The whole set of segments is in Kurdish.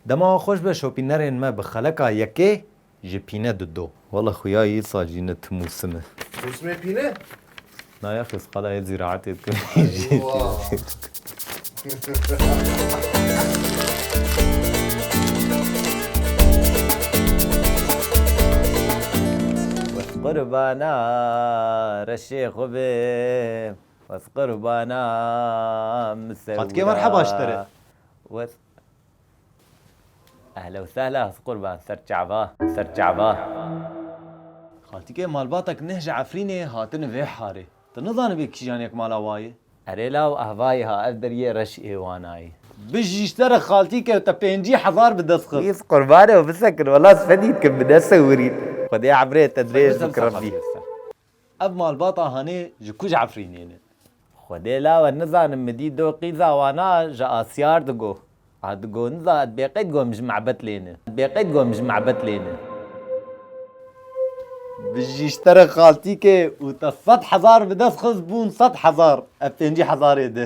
Dema wan xweş be şopînerên me bi xeleka yekê ji pîne dido. Wala xuya yê sal jî ne tim û sim e. Mûsimê pîne? Na ya xêz qala yê zîraetê dikim jî pîne. Wes qurbana reşê xwe bim. Wes qurbana min sewra. Xatikê merheba ji te re. Ehla u sehla his qurban ser çava ser çava. Xaltike malbatek neh ji Efrînê hatine vê harê. Ti nizanibê kîjan yek mala wa ye? Erê law ahvayî ha ev deriyê reş ê wana yî. Bijî ji te re xaltike te pêncî hezar bi dest xist. His qurbanê bisekin wela sipedî dikim bi nesewirîn. Xwedê emrê te dirêj bike Rabbî. Ev malbata Hanê ji ku ji Efrînê ne? Xwedê lawe nizanim min dît do qîza wana ji Asiyar digo. A digo niza ez bêqeyd got min ji mebet lê ne. Ez bêqeyd got min ji mebet lê ne. Bijî ji te re xaltîkê û te sed hezar bi dest xist bûn sed hezar ev pêncî hezarê de.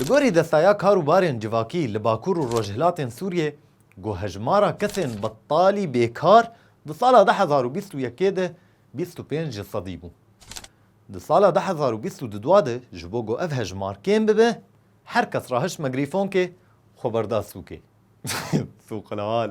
Li gorî Desteya Kar û Barên Civakî li Bakur û Rojhilatên Sûriyê got hejmara kesên betalî bêkar di sala du hezar û bîst û yekê de bîst û pênc ji sedî bû. Di sala du hezar û bîst û du dua de ji bo ku ev hejmar kêm bibe her kes re hişt me grîfonkê xwe berda sûkê. Sûqlal.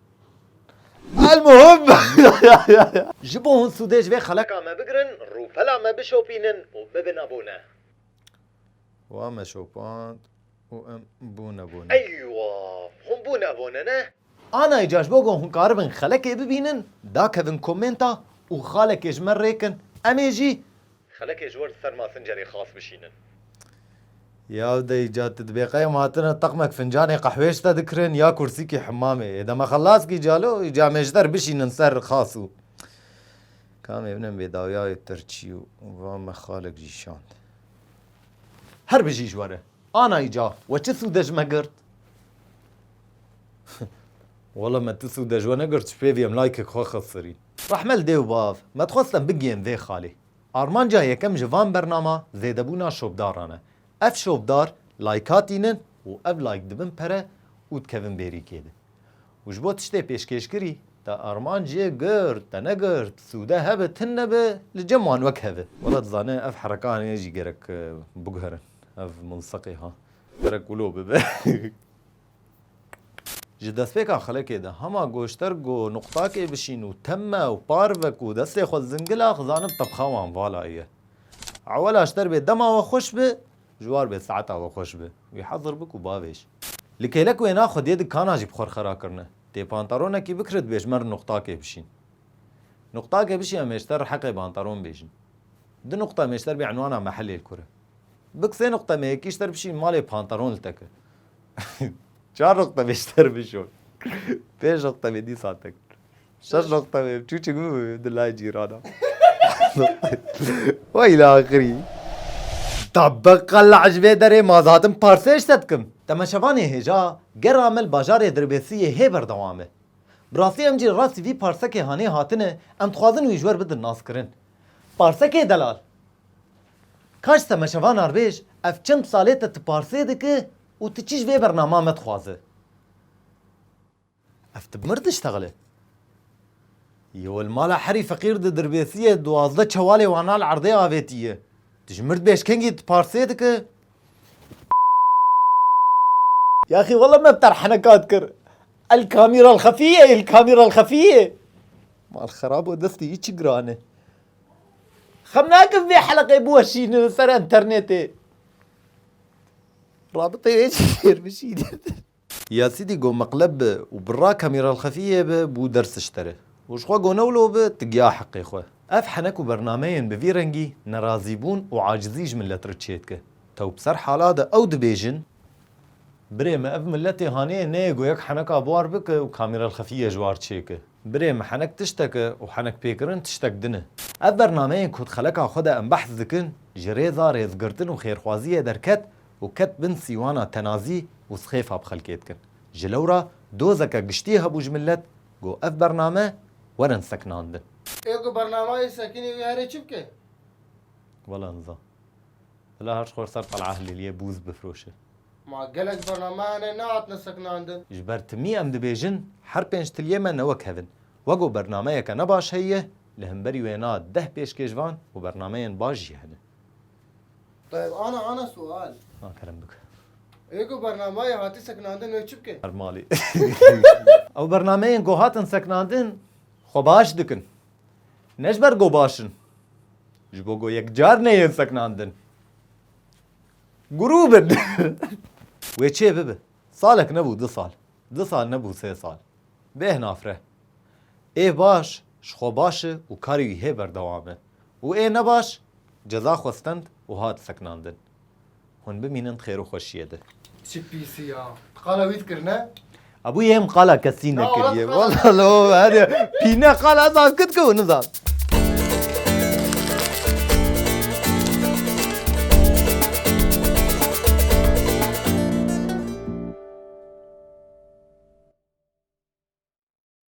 Elmuhim ji bo hûn sûdê ji vê xeleka me bigirin, rûpela me bişopînin û bibin abone. Wan me şopand û em bûn abone. Eywa! Hûn bûn abone ne? Ana îcar ji bo ku hûn karibin xelekê bibînin, dakevin komênta û xalekê ji me rê kin, em ê jî Xelekê ji we li ser masincerê xas bişînin. Ya dey ca tu dibê qey em hatine teqmek fincanê qehwê ji te dikirin ya kursîkî himamê. Hêde me xelas kî ca lo îca em ê ji te re bişînin ser xas û kamê min em bê dawiya wê pirçî û va me xalek jî şand. Her bijî ji we re. Ana îca we çi sûde ji me girt? Wela me tu sûde ji we negirt ji pêvî em laykek xwe xesirîn. Rehme li dê û bav me dixwestin bigiyên vê xalê. Armanca yekem ji van bernama zêdebûna şopdaran e. Ev şopdar layka tînin û ev layk dibin pere û dikevin bêrîkê de. Û ji bo tiştê pêşkêşkirî te armanc yê girt, te negirt, sûde hebe, tin nebe li cem wan wek hev e. Wela dizane ev herekanê jî gerek biguherin. Ev mulseqê ha. Gerek wilo bibe. Ji destpêka xelekê de hema goşter ku nuqtakê bişîn û teme û par ve ku destê xwe zingila xizanin tebxawan vala ye. Ewela ji derbê dema we xweş bi, ji war bê saeta we xweş bi. Wî hezir bik û bavêj. Li kêlek wêna xwediyê di kana jî bi xwe re xera kirine. Tê pantaronekî bikire dibêj mer nuqtakê bişîn. Nuqtakê bişî em êşter riheqê bantaron bêjin. Du nuqta em êşter bê enwana mehelê li kur e. Bik sê nuqta me yekî ji ter bişîn malê pantaron li te ke. Çar noqta bê ji ter bişon. Pênc noqta bê dîsa te kir. Şeş noqta bê çûçik bibû di lay cîrana. Wey la axirî. Da beqa li ecbê derê ma dihatim parsêj te dikim. Temeşevanê hêja ger amel bajarê Dirbêsiyê hê berdewam e. Bi rastî em jî rastî vî parsekê hanê hatine em dixwazin wî ji wer bidin naskirin. Parsekê delal. Kaş te meşeva narbêj ev çend salê te ti parsê diki û ti çi ji vê bernama me dixwazi? Ev ti bi mir diştexile. Yo li mala herî feqîr di dirbêsiyê duwazdeh çewalê wana li erdê avêtiye. Tu ji mird bêj kengî ti parsê diki? Yaxî wele me bi te re henekat kir. El kamîrel xefî ye, el kamîrel xefî ye. Mal xerab o destê yî çi giran e. Xem nakim vê heleqê biweşînin li ser enternetê. Rabiteyê wê jî fêr bişînin. Ya sîdî go meqleb bi û bi ra kamîralxefiyê bi bû dersiş te re. Û ji xwe go newlo bi ti giya heqê xwe. Ev henek û bernameyên bi vî rengî nerazîbûn û acizî ji milet re çêdike. Tew bi ser hala de ew dibêjin. Birê me ev miletê haneyê neyê go yek heneka bi war bike û kamîralxefiyê ji war çêke. Birê min henek tiştek e û henek pêkirin tiştek din e. Ev bernameyên ku di xeleka xwe de em behs dikin ji rêza rêzgirtin û xêrxwaziyê derket û ket bin sîwana tenazî û sixêfa bi xelkê dikin. Ji lewra dozeke giştî hebû ji milet got ev bername werin sekinandin. Ê ku bernama yê sekinê wê herê çi bike? Wela niza. Bila her ji xwe li ser Tel'a Hilîliyê bûz bifiroşe. Ma gelek bername hene nehatine sekinandin. Ji ber timî em dibêjin her pênc tiliyê me ne wek hev in. Wek û bernameyeke ne baş heye, li himberî wê na deh pêşkêşvan û bernameyên baş jî hene. Tayeb ana ana sual. Na kerem bike. Ê ku bernamayê hatî sekinandin ew çi bike? Her malê. Ew bernameyên ku hatin sekinandin xwe baş dikin. Ne ji ber ku baş in. Ji bo ku yek car neyên sekinandin. Guru bin. Wê çê bibe. Salek nebû du sal. Du sal nebû sê sal. Bêh nafre. Ê baş ji xwe baş e û karê wî hê berdewam e û ê nebaş ceza xwe stend û hat sekinandin. Hûn bimînin di xêr û xweşiyê de. Çi pîsî ya. Ti qala wî dikirine? Abû yê em qala kesî nekiriye. Wala lo her pîne qala ez askit ke û nizan.